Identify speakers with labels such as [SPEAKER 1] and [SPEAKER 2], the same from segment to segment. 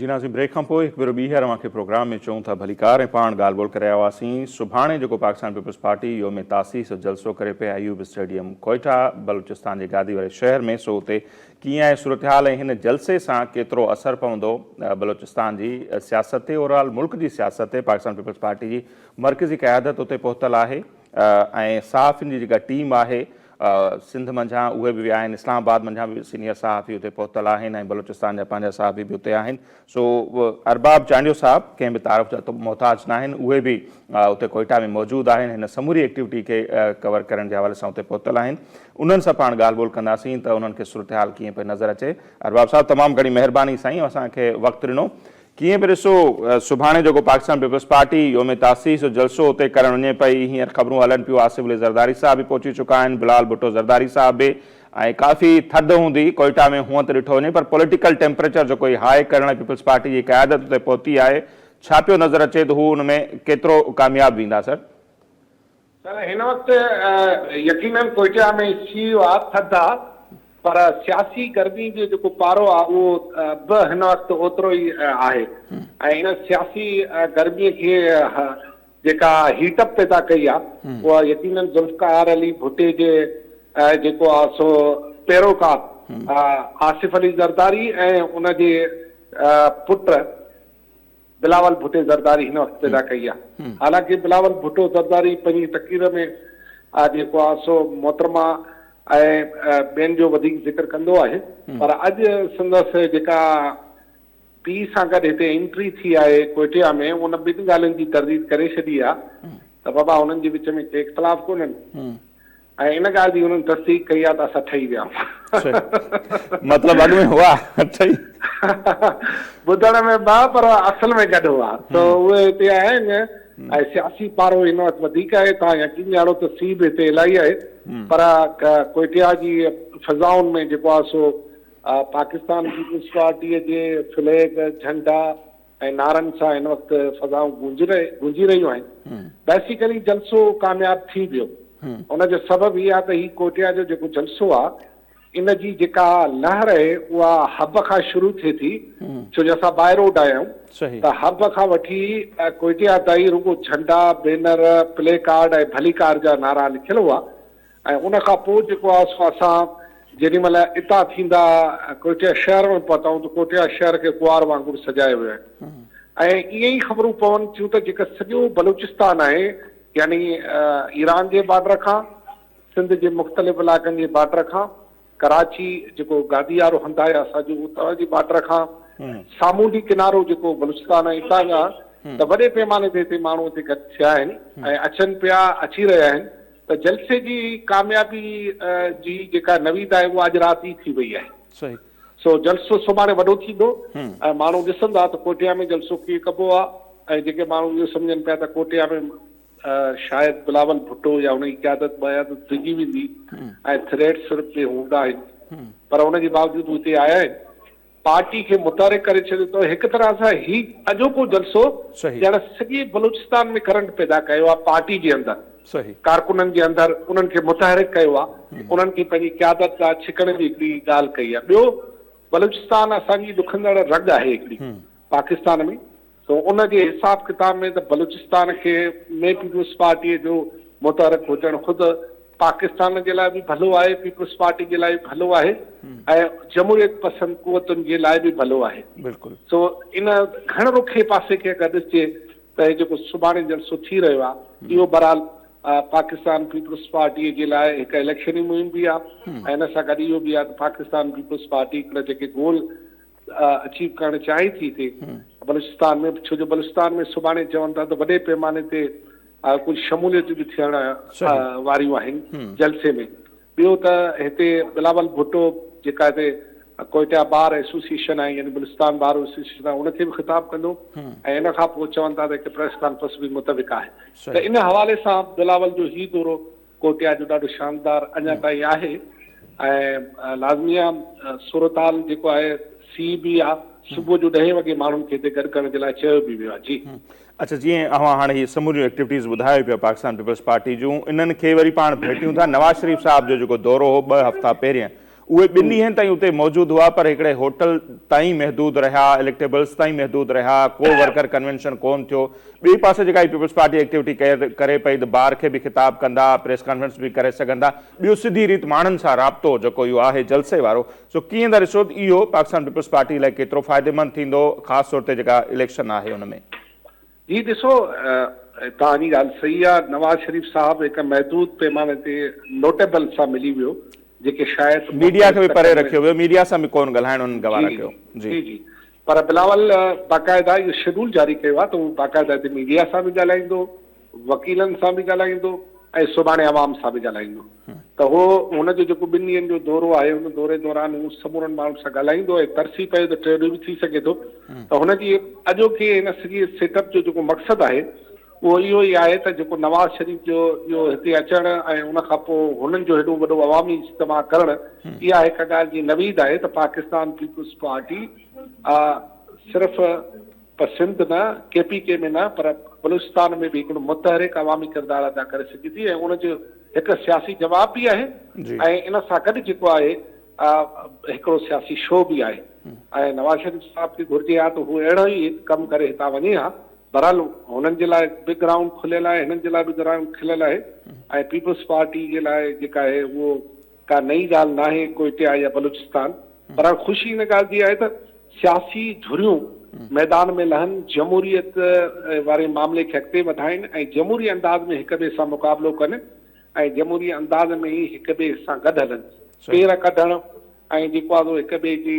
[SPEAKER 1] جي نازين بريڪ کان پوء هڪ ڀيرو ٻيهر اوهان کي پروگرام ۾ چئون ٿا ڀليڪار ۽ پاڻ ڳالهه ٻولهه ڪري آيا هئاسين سڀاڻي جيڪو پاڪستان پيپلز پارٽي يوم تاسيس جو جلسو ڪري پئي ايوب اسٽيڊيم ڪوئيٽا بلوچستان جي گادي واري شهر ۾ سو اتي ڪيئن آهي صورتحال ۽ هن جلسي سان ڪيترو اثر پوندو بلوچستان جي سياست تي اوور آل ملڪ جي سياست تي پاڪستان پيپلز پارٽي جي مرڪزي قيادت اتي پهتل آهي ۽ صحافين جي جيڪا ٽيم آهي سنڌ منجهان اهي به ويا آهن، اسلام آباد منجهان به سينيئر صحافي اتي پهتل آهن ۽ بلوچستان جا پنهنجا صحافي به اتي آهن، سو ارباب چانڊيو صاحب ڪنهن به تعارف جا محتاج ناهن، اهي به اتي ڪوئيٽا ۾ موجود آهن، هن سموري ايڪٽيوٽي کي ڪور ڪرڻ جي حوالي سان اتي پهتل آهن، انهن سان پاڻ ڳالهه ٻولهه ڪنداسين ته انهن کي صورتحال ڪيئن پئي نظر اچي. ارباب صاحب تمام گهڻي مهرباني سائين اسان کي وقت ڏنو. ڪيئن به ڏسو سڀاڻي جيڪو پاڪستان پيپلز پارٽي يوم تاسيس جو جلسو اتي ڪرڻ وڃي پئي هينئر خبرون هلن پيون آصف علي زرداري صاحب به پهچي چڪا آهن بلال ڀٽو زرداري صاحب به ۽ ڪافي ٿڌ هوندي ڪوئيٽا ۾ هونئن ته ڏٺو وڃي پر پوليٽيڪل ٽيمپريچر جيڪو هي هاء ڪرڻ لاء پيپلز پارٽي جي قيادت اتي پهتي آهي ڇا پيو نظر اچي ته هو ان ۾ ڪيترو ڪامياب ويندا سر.
[SPEAKER 2] سر هن وقت يقينن ڪوئٽا ۾ سي ايو آ ٿڌ آ پر سياسي گرمي جو جيڪو پارو آ اهو به هن وقت اوترو ئي آهي ۽ ان سياسي گرمي کي جيڪا هيٽ اپ پيدا ڪئي آ اها يقينن ذوالفقار علي ڀٽي جي جيڪو آ سو پيروڪار آصف علي زرداري ۽ ان جي پٽ بلاول ڀٽي زرداري هن وقت پيدا ڪئي آهي حالانڪه بلاول ڀٽو زرداري پنهنجي تقرير ۾ جيڪو آهي سو محترمه ۽ ٻين جو وڌيڪ ذڪر ڪندو آهي پر اڄ سندس جيڪا پي سان گڏ هتي انٽري ٿي آهي ڪوئٽيا ۾ ان ٻن ڳالهين جي ترديد ڪري ڇڏي آهي ته بابا هنن جي وچ ۾ ڪي اختلاف ڪونهن ۽ ان ڳالهه جي انهن تصديق ڪئي آهي ته اسان ٺهي ويا آهيون.
[SPEAKER 1] مطلب اڳ ۾ هئا ٺهي.
[SPEAKER 2] ٻڌڻ ۾ ٻه پر اصل ۾ گڏ هئا ته اهي هتي آيا آهن ۽ سياسي پارو هن وقت وڌيڪ آهي توهان يقين ڄاڻو ته سي به هتي الائي آهي پر ڪوئٽيا جي فضائن ۾ جيڪو آهي سو پاڪستان پيپلز پارٽيء جي فليگ، جهنڊا، ۽ نعرن سان هن وقت فضائون گونجي رهيون آهن، بيسيڪلي جلسو ڪامياب ٿي ويو. ان جو سبب هي آهي ته هي ڪوئٽيا جو جيڪو جلسو آهي، ان جي جيڪا لهر اهي اها حب کان شروع ٿئي ٿي، ڇو جو اسان باء روڊ آيا آهيون ته حب کان وٺي ڪوئٽيا تائين رڳو جهنڊا، بينر، پلي ڪارڊ ۽ ڀلي ڪار جا نعرا لکيل هئا. ۽ ان کان پوء جيڪو آهي سو اسان جيڏي مهل اتان ٿيندا ڪوئٽيا شهر ۾ پهتائون ته ڪوئٽيا شهر کي ڪنوار وانگر سجايو ويو آهي ۽ ائين ئي خبرون پون ٿيون ته جيڪا سڄو بلوچستان آهي يعني ايران جي بارڊر کان سنڌ جي مختلف علائقن جي بارڊر کان ڪراچي جيڪو گاديارو هنڌ آهي اسان جو اتان جي بارڊر کان سامونڊي ڪنارو جيڪو بلوچستان ۽ اتان جا ته وڏي پيماني تي هتي ماڻهو هتي گڏ ٿيا آهن ۽ اچن پيا اچي رهيا آهن ته جلسي جي ڪاميابي جي جيڪا نويد آهي اها اڄ رات ئي ٿي وئي آهي صحيح سو جلسو سڀاڻي وڏو ٿيندو ۽ ماڻهو ڏسندا ته ڪوٽيا ۾ جلسو ڪيئن ڪبو آهي ۽ جيڪي ماڻهو اهو سمجهن پيا ته ڪوٽيا ۾ شايد بلاول ڀٽو يا هن جي قيادت ٻه آيا ته ڊڄي ويندي ۽ ٿريٽس صرف ٻئي هوندا آهن پر ان جي باوجود هو هتي آيا آهن پارٽي کي متحرڪ ڪري ڇڏيو اٿئون هڪ طرح سان هي اڄوڪو جلسو ڄڻ سڄي بلوچستان ۾ ڪرنٽ پيدا ڪيو آهي پارٽي جي اندر ڪارڪنن جي اندر انهن کي متحرڪ ڪيو آهي انهن کي پنهنجي قيادت ڏانهن ڇڪڻ جي هڪڙي ڳالهه ڪئي آهي ٻيو بلوچستان اسان جي ڏکندڙ رڳ آهي هڪڙي پاڪستان ۾ سو ان جي حساب ڪتاب ۾ ته بلوچستان کي ۾ پيپلز پارٽيء جو متحرڪ هجڻ خود پاڪستان جي لاء به ڀلو آهي، پيپلز پارٽي جي لاء به ڀلو آهي ۽ جمهوريت پسند قوتن جي لاء به ڀلو آهي. بلڪل. سو ان گهڻ رخي پاسي کي اگر ڏسجي ته هي جيڪو سڀاڻي جلسو ٿي رهيو آهي اهو بهرحال پاڪستان پيپلز پارٽيء جي لاء هڪ اليڪشني مهم به آهي ۽ ان سان گڏ اهو به آهي ته پاڪستان پيپلز پارٽي هڪڙا جيڪي گول اچيو ڪرڻ چاهي ٿي تي بلوچستان ۾ ڇو جو بلوچستان ۾ سڀاڻي چون ٿا ته وڏي پيماني تي ڪجهه شموليتون به ٿيڻ واريون آهن جلسي ۾ ٻيو ته هتي بلاول ڀٽو جيڪا هتي ڪوئٽا بار ايسوسيشن آهي يعني بلوچستان بار ايسوسيشن آهي ان کي به خطاب ڪندو ۽ ان کان پوء چون ٿا ته هڪ پريس ڪانفرنس به متفق آهي ته ان حوالي سان بلاول جو هي دورو ڪوٽيا جو ڏاڍو شاندار اڃا تائين آهي ۽ لازمي آ صورتحال جيڪو آهي سي بي آ صبح جو ڏهين وڳي ماڻهن کي هتي گڏ ڪرڻ جي لاء چيو به ويو آ جي. اڇا جيئن اوهان
[SPEAKER 1] هاڻي هي سموريون ايڪٽيوٽيز ٻڌايو پيا پاڪستان پيپلز پارٽي جون انهن کي وري پاڻ ڀيٽيون ٿا نواز شريف صاحب جو جيڪو دورو هو ٻه هفتا پهرين اهي ٻن ڏينهن تائين اتي موجود هئا پر هڪڙي هوٽل تائين محدود رهيا، اليڪٽيبلز تائين محدود رهيا، ڪو ورڪر ڪنوينشن ڪون ٿيو. ٻئي پاسي جيڪا هي پيپلز پارٽي ايڪٽيوٽي ڪري پئي ته بار کي به خطاب ڪندا، پريس ڪانفرنس به ڪري سگهندا، ٻيو سڌي ريت ماڻهن سان رابطو جيڪو اهو آهي جلسي وارو سو ڪيئن ٿا ڏسو ته اهو پاڪستان پيپلز پارٽي لاء ڪيترو فائديمند ٿيندو خاص طور تي جيڪا اليڪشن آهي ان ۾؟ جي ڏسو
[SPEAKER 2] توهان جي ڳالهه صحيح آ نواز شريف صاحب هڪ محدود پيماني تي نوٽيبل سان ملي ويو جيڪي شايد ميڊيا کي به پري رکيو
[SPEAKER 1] ويو ميڊيا سان به ڪون ڳالهائڻ انهن گوارا ڪيو جي جي جي
[SPEAKER 2] پر بلاول باقاعده اهو شيڊول جاري ڪيو آ ته هو باقاعده هتي ميڊيا سان به ڳالهائيندو وڪيلن سان به ڳالهائيندو ۽ سڀاڻي عوام سان به ڳالهائيندو ته هو هن جو جيڪو ٻن ڏينهن جو دورو آهي ان دوري دوران هو سمورن ماڻهن سان ڳالهائيندو ۽ ترسي پيو ته ٽي ڏينهن به ٿي سگهي ٿو ته هن جي اڄوڪي هن سڄي سيٽ اپ جو جيڪو مقصد آهي اهو اهو ئي آهي ته جيڪو نواز شريف جو اهو هتي اچڻ ۽ ان کان پوء هنن جو هيڏو وڏو عوامي اجتماع ڪرڻ اها هڪ ڳالهه جي نويد آهي ته پاڪستان پيپلز پارٽي صرف پر سنڌ نه ڪي پي ڪي ۾ نه پر بلوچستان ۾ به هڪڙو متحرڪ عوامي ڪردار ادا ڪري سگهي ٿي ۽ ان جو هڪ سياسي جواب به آهي ۽ ان سان گڏ جيڪو آهي هڪڙو سياسي شو به آهي ۽ نواز شريف صاحب کي گهرجي ها ته هو اهڙو ئي هڪ ڪم ڪري هتان وڃي ها بهرحال هنن جي لاء به گرائونڊ کليل آهي هنن جي لاء به گرائونڊ کليل آهي ۽ پيپلز پارٽي جي لاء جيڪا آهي اهو ڪا نئين ڳالهه ناهي ڪوئٽه يا بلوچستان پر هاڻ خوشي ان ڳالهه جي آهي ته سياسي ڌريون ميدان ۾ لهن جمهوريت واري معاملي کي اڳتي وڌائين ۽ جمهوري انداز ۾ هڪ ٻئي سان مقابلو ڪن ۽ جمهوري انداز ۾ ئي هڪ ٻئي سان گڏ هلن پير ڪڍڻ ۽ جيڪو آهي سو هڪ ٻئي جي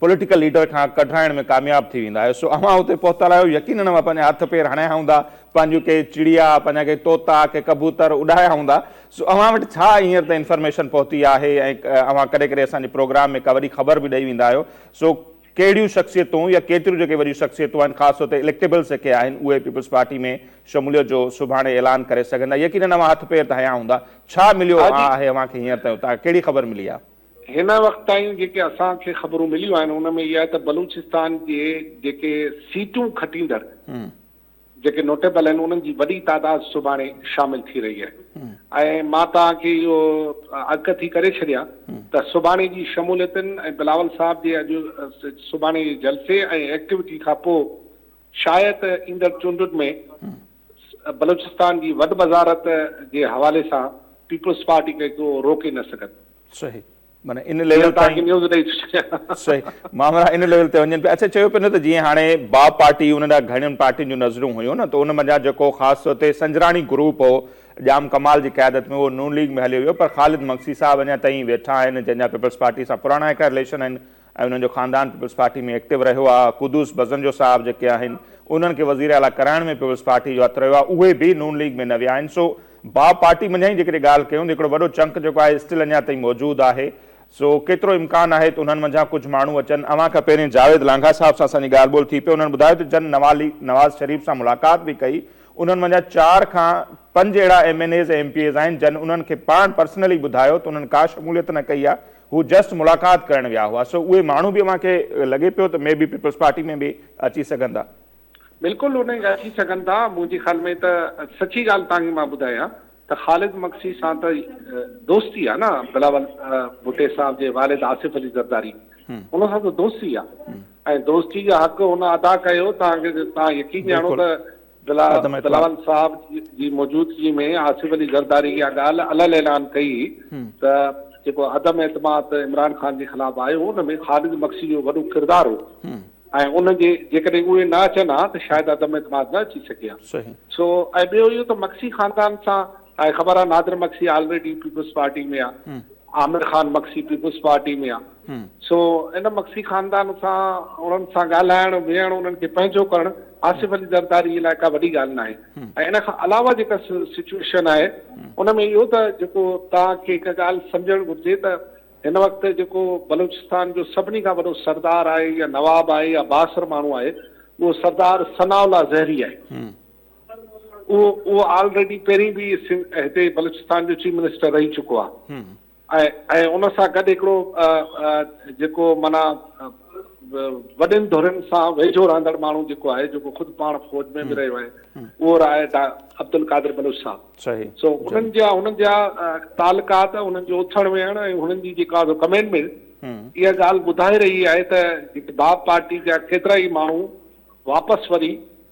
[SPEAKER 1] پوليٽيڪل ليڊر کان ڪڍرائڻ ۾ ڪامياب ٿي ويندا آهيو سو اوهان اتي پهتل آهيو يقينن اوهان پنهنجا هٿ پير هڻايا هوندا پنهنجيون ڪي چڙيا پنهنجا ڪي طوطا ڪي ڪبوتر اڏايا هوندا سو اوهان وٽ ڇا هينئر تائين انفارميشن پهتي آهي ۽ اوهان ڪڏهن ڪڏهن اسان جي پروگرام ۾ ڪا وڏي خبر به ڏئي ويندا آهيو سو ڪهڙيون شخصيتون يا ڪيتريون جيڪي وڏيون شخصيتون آهن خاص طور تي اليڪٽيبلز جيڪي آهن اهي پيپلز پارٽي ۾ شموليت جو سڀاڻي اعلان ڪري سگهندا يقينن اوهان هٿ پير ته هنيا هوندا ڇا مليو آهي اوهان کي هينئر تائين اتان کان ڪهڙي خبر ملي آهي هن وقت تائين
[SPEAKER 2] جيڪي اسان کي خبرون مليون آهن ان ۾ اها آهي ته بلوچستان جي جيڪي سيٽون کٽيندڙ جيڪي نوٽيبل آهن انهن جي وڏي تعداد سڀاڻي شامل ٿي رهي آهي ۽ مان توهان کي اهو اڳ ٿي ڪري ڇڏيان ته سڀاڻي جي شموليتن ۽ بلاول صاحب جي اڄ سڀاڻي جي جلسي ۽ ايڪٽيوٽي کان پوء شايد ته ايندڙ چونڊن ۾ بلوچستان جي وڏ وزارت جي حوالي سان پيپلز پارٽي کي ڪو روڪي نه سگهندو. صحيح معنيٰ
[SPEAKER 1] ان ليول تائين
[SPEAKER 2] صحيح مامرا
[SPEAKER 1] ان ليول تي وڃن پيا اڇا چيو پيو نه ته جيئن هاڻي با پارٽي ان ڏانهن گهڻين پارٽين جون نظرون هيون نه ته ان منجهان جيڪو خاص طور تي سنجراڻي گروپ هو ڄام ڪمال جي قيادت ۾ اهو نون ليگ ۾ هليو ويو پر خالد مگسي صاحب اڃا تائين ويٺا آهن جنهن جا پيپلز پارٽي سان پراڻا هڪڙا رليشن آهن ۽ انهن جو خاندان پيپلز پارٽي ۾ ايڪٽو رهيو آ، قدوس بزنجو صاحب جيڪي آهن انهن کي وزير اعليٰ ڪرائڻ ۾ پيپلز پارٽي جو هٿ رهيو آ اهي به نون ليگ ۾ نه ويا آهن سو با پارٽي منجهان ئي جيڪڏهن ڳالهه ڪيون ته هڪڙو وڏو چنڪ جيڪو آهي اسٽل اڃا تائين موجود آهي سو ڪيترو امڪان آهي ته انهن منجهان ڪجهه ماڻهو اچن اوهان کان پهرين جاويد لانگاهه صاحب سان اسان جي ڳالهه ٻولهه ٿي پئي انهن ٻڌايو ته جن نواز شريف سان ملاقات به ڪئي انهن منجهان چار کان پنج اهڙا M N As ۽ M P As آهن جن انهن کي پاڻ پرسنلي ٻڌايو ته انهن ڪا شموليت نه ڪئي آ هو جسٽ ملاقات ڪرڻ ويا هئا سو اهي ماڻهو به اوهان کي لڳي پيو ته مي بي پيپلز پارٽي ۾ به اچي سگهن ٿا. بلڪل ان
[SPEAKER 2] اچي سگهن ٿا منهنجي خيال ۾ ته سچي ڳالهه توهان کي مان ٻڌايان ته خالد مگسي سان ته دوستي آهي نه بلاول ڀٽي صاحب جي والد آصف علي زرداري ان سان ته دوستي آهي ۽ دوستي جو حق هن ادا ڪيو توهان کي توهان يقين ڄاڻو ته بلاول صاحب جي موجودگي ۾ آصف علي زرداري اها ڳالهه علل اعلان ڪئي ته جيڪو عدم اعتماد عمران خان جي خلاف آيو ان ۾ خالد مگسي جو وڏو ڪردار هو ۽ ان جي جيڪڏهن اهي نه اچن ها ته شايد عدم اعتماد نه اچي سگهي ها سو ۽ ٻيو اهو ته مگسي خاندان سان تانکي خبر آ Nadir Magsi already peoples party ۾ آ عامر خان مگسي پيپلز پارٽي ۾ آ سو ان مگسي خاندان سان انهن سان ڳالهائڻ ويهڻ انهن کي پنهنجو ڪرڻ آصف علي زرداري لاء ڪا وڏي ڳالهه ناهي ۽ ان کان علاوه جيڪا سچوئيشن آهي ان ۾ اهو ته جيڪو تان کي هڪ ڳالهه سمجهڻ گهرجي ته هن وقت جيڪو بلوچستان جو سڀني کان وڏو سردار آهي يا نواب آهي يا بااثر ماڻهو آهي اهو سردار ثناء الله زهري آهي اهو اهو آلريڊي پهرين به هتي بلوچستان جو چيف منسٽر رهي چڪو آهي ۽ ان سان گڏ هڪڙو جيڪو مانا وڏين ڌرين سان ويجهو رهندڙ ماڻهو جيڪو آهي جيڪو خود پاڻ فوج ۾ به رهيو آهي اهو آهي عبدالقادر بلوچ صاحب سو انهن جا
[SPEAKER 1] انهن
[SPEAKER 2] جا تعلقات انهن جو اٿڻ ويهڻ ۽ انهن جي جيڪا ڪمينٽمنٽ اها ڳالهه ٻڌائي رهي آهي ته باب پارٽي جا ڪيترا ئي ماڻهو واپس وري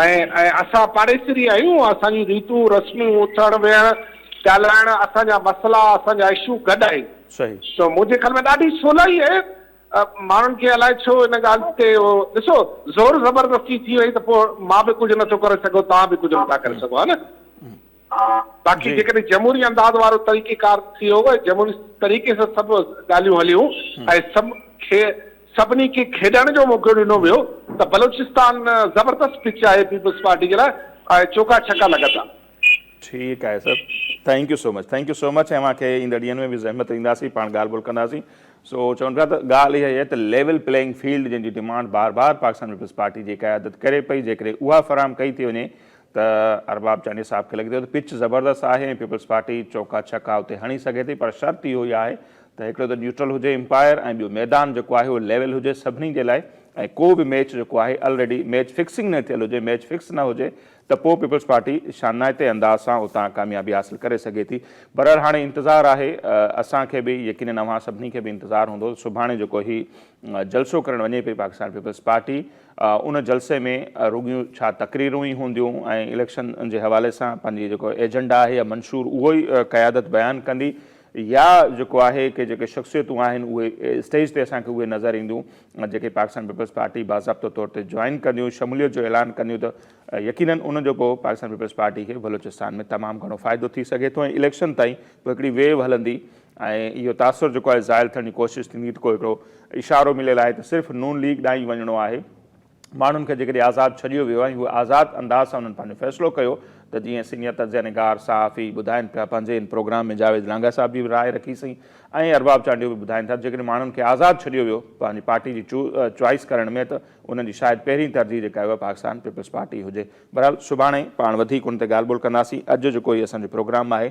[SPEAKER 2] ۽ اسان پاڙيسري آهيون، اسان جون ريتون رسمون، اٿڻ ويهڻ، ڳالهائڻ، اسان جا مسئلا، اسان جا اشو گڏ آهن. صحيح. ته منهنجي خيال ۾ ڏاڍي سولائي آهي. ماڻهن کي الائي ڇو ان ڳالهه تي اهو ڏسو زور زبردستي ٿي وئي ته پوء مان به ڪجهه نٿو ڪري سگهو، توهان به ڪجهه نٿا ڪري سگهو ها نه. باقي جيڪڏهن جمهوري انداز وارو طريقيڪار ٿي هو جمهوري طريقي سان سڀ ڳالهيون هليون ۽ سڀ کي سڀني کي کيڏڻ جو موقعو ڏنو ويو ته بلوچستان زبردست پچ آهي پيپلز پارٽي جي لاء ۽ چوڪا ڇڪا لڳندا. ٺيڪ
[SPEAKER 1] آهي sir thank you so much thank you so much اوهان کي ايندڙ ڏينهن ۾ به زحمت ڏينداسين پاڻ ڳالهه ٻولهه ڪنداسين سو چون پيا ته ڳالهه اها هي ته ليول پليئنگ فيلڊ جنهن جي ڊيمانڊ بار بار پاڪستان پيپلز پارٽي جي قيادت ڪري پئي جيڪڏهن اها فراهم ڪئي ٿي وڃي ته ارباب چانڊيو صاحب کي لڳي ٿو ته پچ زبردست آهي ۽ پيپلز پارٽي چوڪا ڇڪا اتي هڻي سگهي ٿي پر شرط اهو ئي آهي ته هڪڙو ته نيوٽرل هجي امپائر ۽ ٻيو ميدان جيڪو آهي اهو ليول هجي سڀني جي لاء ۽ ڪو به ميچ جيڪو آهي الريڊي ميچ فڪسنگ نه ٿيل هجي ميچ فڪس نه هجي ته پوء پيپلز پارٽي شانائتي انداز سان اتان ڪاميابي حاصل ڪري سگهي ٿي بهرحال هاڻي انتظار آهي اسان کي به يقينن اوهان سڀني کي به انتظار هوندو سڀاڻي جيڪو هي جلسو ڪرڻ وڃي پئي پاڪستان پيپلز پارٽي ان جلسي ۾ رڳيون ڇا تقريرون ئي هونديون ۽ اليڪشن جي حوالي سان پنهنجي جيڪو ايجنڊا آهي يا منشور اهو ئي قيادت بيان ڪندي يا جيڪو آهي ڪي جيڪي شخصيتون آهن اهي اسٽيج تي اسان کي اهي نظر اينديون جيڪي پاڪستان پيپلز پارٽي باضابطو طور تي جوائن ڪنديون شموليت جو اعلان ڪنديون ته يقينن ان جو پوء پاڪستان پيپلز پارٽي کي بلوچستان ۾ تمام گهڻو فائدو ٿي سگهي ٿو ۽ اليڪشن تائين پوء هڪڙي ويو هلندي ۽ اهو تاثر جيڪو آهي زائل ٿيڻ جي ڪوشش ٿيندي ته ڪو هڪڙو اشارو مليل آهي ته صرف نون ليگ ڏانهن ئي وڃڻو آهي ماڻهن کي جيڪڏهن آزاد ڇڏيو ويو ۽ هو آزاد انداز سان انهن پنهنجو فيصلو ڪيو ته جيئن سينيئر تجزيه نگار صحافي ٻڌائين پيا پنهنجي ان پروگرام ۾ جاويد لانگاهه صاحب جي به راء رکي سين ۽ ارباب چانڊيو به ٻڌائين ٿا ته جيڪڏهن ماڻهن کي آزاد ڇڏيو ويو پنهنجي پارٽي جي چوائيس ڪرڻ ۾ ته انهن جي شايد پهرين ترجيح جيڪا آهي اها پاڪستان پيپلز پارٽي هجي بهرحال سڀاڻي پاڻ وڌيڪ ان تي ڳالهه ٻولهه ڪنداسين اڄ جيڪو هي اسان جو پروگرام آهي